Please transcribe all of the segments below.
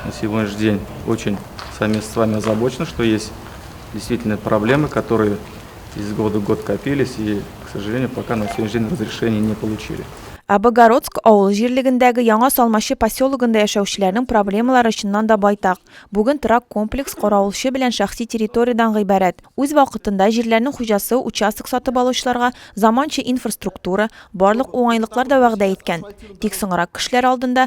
На сегодняшний день очень сами с вами озабочены, что есть действительно проблемы, которые из года в год копились и, к сожалению, пока на сегодняшний день разрешения не получили. Ә Богородск авыл җирлегендәге Яңа Салмачы поселогында яшәүчеләрнең проблемалары чыннан да байтак. Бүген трак комплекс каравылчы белән шәхси территориядән гыйбарәт. Үз вакытында җирләрнең хуҗасы участок сатып алучыларга заманча инфраструктура, барлык уңайлыклар да вәгъдә иткән. Тик соңрак кешеләр алдында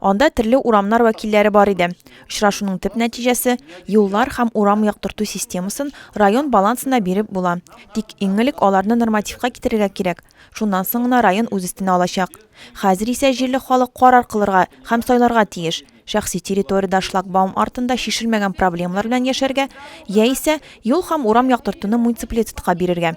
Анда төрле урамнар вәкилләре бар иде. Очрашуның төп нәтиҗәсе, юллар һәм урам яктырту системасын район балансына биреп була. Тик иң элек аларны нормативка китерергә кирәк, шуннан соң гына район үз өстенә алачак. Хәзер исә җирле халык карар кылырга һәм сайларга тиеш, шәхси территориядә шлагбаум артында чишелмәгән проблемалар белән яшәргә яисә юл һәм урам яктыртуны муниципалитетка бирергә.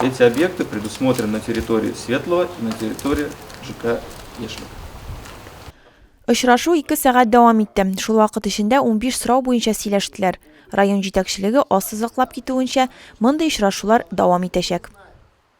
Эти объекты предусмотрены на территории Светлого и на территории ЖК Яшьлек. Очрашу ике сәгать дәвам итте. Шул вакыт эчендә 15 сорау буенча сөйләштеләр. Район җитәкчелеге ассызыклап китүенчә, мондый очрашулар дәвам итәчәк.